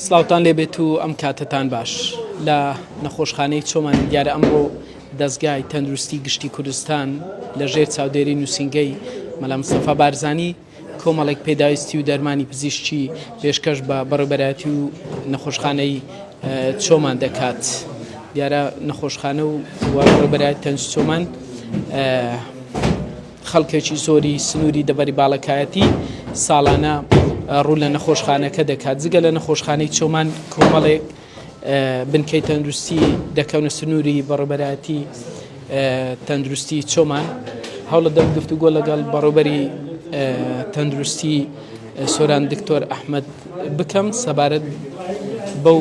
سلاوتان لێبێت و ئەم کاتتان باش لە نەخۆشخانەی چۆمان دیارە ئەمڕۆ دەستگای تەندروستی گشتی کوردستان لە ژێر چاودێری نووسنگەی مەلام سەفا بارزانی کۆمەڵێک پێداویستی و دەرمانی پزیشتی پێشکەش بە بەڕێبەراتی و نەخۆشخانەی چۆمان دەکات دیارە نەخۆشخانە و بەرای تەنج چۆمان خەڵکێکی زۆری سنووری دەڤەری باڵەکایەتی ساڵانە ڕوو لە نەخۆشخانەکە دەکات جگە لە نەخۆشخانەی چۆمان کۆمەڵێک بنکەی تەندروستی دەکەونە سنووری بەڕێبەرایەتی تەندروستی چۆمان هەوڵە دەم گفتوگۆ لەگەڵ بەڕێبەری تەندروستی سۆران دکتۆر ئەحمد بکەم سەبارەت بەو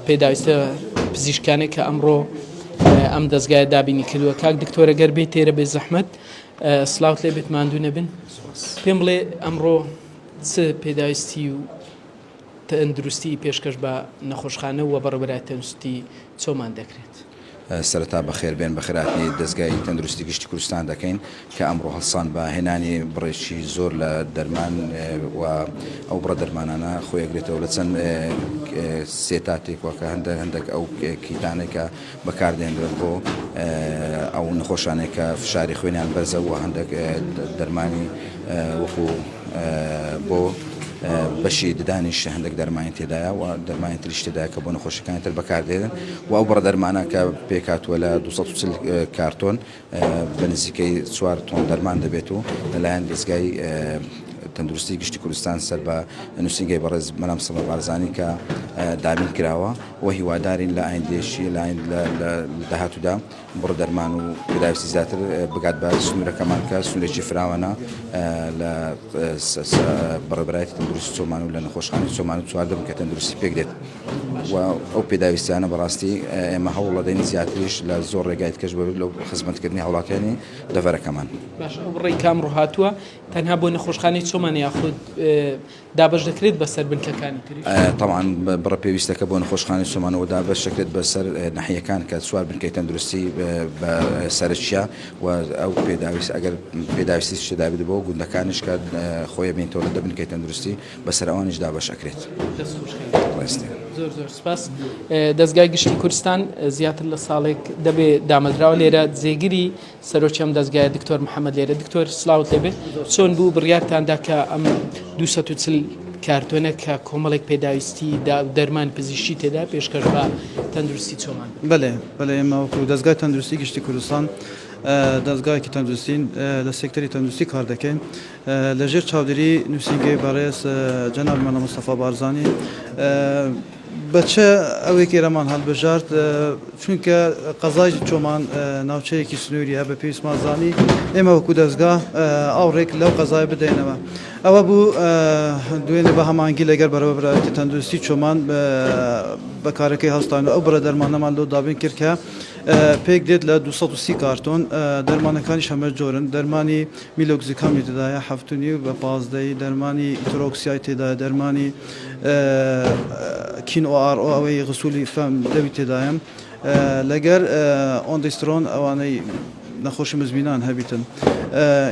پێداویستە پزیشکانێک کە ئەمڕۆ ئەم دەستگایە دابینی کردووە کاک دکتۆرە گەر بێت تێرە بێ زەحمەت سلااوت لێ بێت ماندوو نەبن پێم بڵێ ئەمڕۆ چ پێداویستی و تەندروستی پێشکەش بە نەخۆشخانە و بەڕبرای تەنستی چۆمان دەکرێت سەرتا بەخێربێن بەخراتنی دەستگای تەندروستی گشتی کوردستان دەکەین کە ئەمڕۆ هەڵسان بە هێنانی بڕێکی زۆر لە دەرمان و ئەو بڕە دەرمانانە خۆی ئەگرێتەوە لە چەند سێتاتێک وە کە هەندێک هەندێک ئەو کیتانێک کە بەکاردێنرێن بۆ ئەو نەخۆشانێک کە فشاری خوێنیان بەرزە و هەندێک دەرمانی وەکو بۆ بەشی ددانیش هەندێک دەرمانی تێدایە و دەرمانی تریش تێدایە کە بۆ نەخۆشەکانی تر بەکاردێنن و ئەو بڕە دەرمانە کە پێکاتوە لە 240 کارتۆن بە نزیکەی چوار تۆن دەرمان دەبێت و لەلایەن دەزگای تەندروستی گشتی کوردستان سەر بە نووسینگەی بەڕێز مەرام سەڵە بارزانانی کە دابین کراوە و هیوادارین لە ئایندێشی لایند لە داهاتوودا بڕ دەرمان و پێداویستی زیاتر بگات بە سنوورەکەمان کە سنوورێکی فراوانە لە بەڕێبەرایەتی تەندروستی چۆمان و لە نەخۆشخانەی چۆمان و چواردەم کە تەندروستی پێک دێت و ئەو پێداویستیانە بەڕاستی ئێمە هەوڵەدەین زیاتریش لە زۆر ڕێگای تکەش بەبێت لەو خزمەتکردنی هاوڵاتیانی دەڤەرەکەمان. باش ئەو بڕەی کە ئەمڕۆ هاتووە تەنها بۆ نەخۆشخانەی چۆمانە یاخود دابەش دەکرێت بەسەر بنکەکانی تریش؟ تەبعەن بڕە پێویستەکە بۆ نەخۆشخانەی چۆمانەوە دابەش دەکرێت بەسەر ناحیەکان کە چوار بنکەی تەندروستی بە سەرەکیە و ئەو پێداویست ئەگەر پێداویستیش تێدابێت بۆ گوندەکانیش کە خۆیەبینێتەوە لە دە بنکەی تەندروستی بەسەر ئەوانیش دابەش ئەکرێت. دەست خوش کاک بەرێز زۆر زۆر سپاس. دەزگای گشتی کوردستان زیاتر لە ساڵێک دەبێ دامەزراوە لێرە جێگری سەرۆکی ئەم دەزگایە دکتۆر محەمەد لێرە دکتۆر سلاوت لێبێ چۆن بوو بڕیارتاندا کە ئەم 240 کارتۆنە کە کۆمەڵێک پێداویستی دا و دەرمان پزیشتی تێدا پێشکەش بە تەندروستی چۆمان بەێ بەێ ئێمەوەکو دەستگای تەندروستی گشتی کوردستان دەستگایکی تەندروستین لە سێکتەری تەندروستی کار دەکەین لە ژێر چاودێری نووسینگەی بەڕێز جەنابی مەلا مستەفا بارزانی بە چ ئەوێک ئێرەمان هەڵبژارد چونکە قەزای چۆمان ناوچەیەکی سنووری هە بە پێویستمان زانی ئێمە وەکو دەستگا ئەو ڕێک لەو قەزای بدەینەوە ئەوە بوو دوێنێ بە هەمانگی لەگەر بەرەوەبراتی تەندروستی چۆمان بەکارەکەی هەستان و ئەو بڕە دەرمانەمان لۆ دابین کرد کە پێک دێت لە 230 کارتۆن دەرمانەکانی شەمە جۆرن دەرمانی میلۆکزیکامی تێدایە حەفت و نیو بە پازدە ی دەرمانی ئیترۆکسیای تێدایە دەرمانی کین ئۆ ئاڕ ئۆ ئەوەی غسولی فەم لەوی تێدایە لەگەر ئۆندیسترۆن ئەوانەی نەخۆشی مزمینان هەبیتن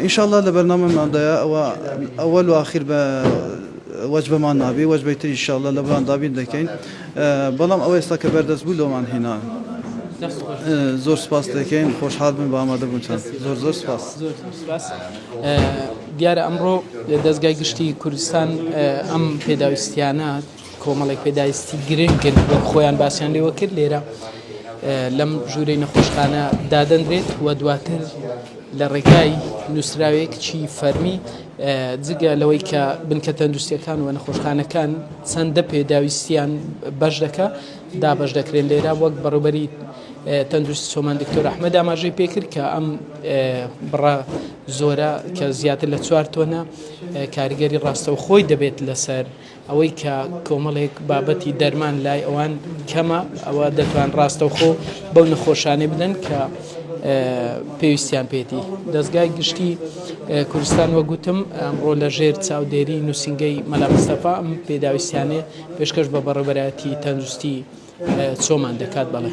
ان شاء الله لە بەرنامەماندایە ئەوە ئەوەل و ئاخیر بە وەجبەمان نابی وەجبەی تری ان شاء الله لە بەران دابین دەکەین بەڵام ئەو ئێستا کە بەردەست بوو لۆمان هیناوین زۆر سپاست دەکەین خۆشحال بن بە ئامادە بوونتان زۆر زۆر سپاس دیارە ئەمڕۆ دەستگای گشتی کوردستان ئەم پێداویستیانە کۆمەڵێک پێداویستی گرنگن خۆیان باسییان لێوە کرد لێرە لەم ژوورەی نەخۆشخانە دادەنرێت و دواتر لە ڕێگای نووسراوێک چی فەرمی جگە لەوەی کە بنکە تەندروستیەکان و نەخۆشخانەکان چەندە پێداویستیان بەش دەکە دابش دەکرێن لێرا وەک بەڕوبەری تەندروستی سۆمان دکتۆر ئەحمەد ئاماژەی پێکرد کە ئەم بڕە زۆرە کە زیاتر لە چوار تۆنە کاریگەری ڕاستەوخۆی دەبێت لەسەر ئەوەی کە کۆمەڵێک بابەتی دەرمان لای ئەوان کەمە ئەوە دەتوان ڕاستەوخۆ بەو نەخۆشانێ بدەن کە پێویستیان پێێتی دەستگای گشتی کوردستان وەگوتم ئەمڕۆ لە ژێر چاودێری نووسنگەی مەلامستەفا ئەم پێداویستیانێ پێشکەش بە بەڕێبەرایەتی تەندروستی چۆمان دەکات بەڵێ.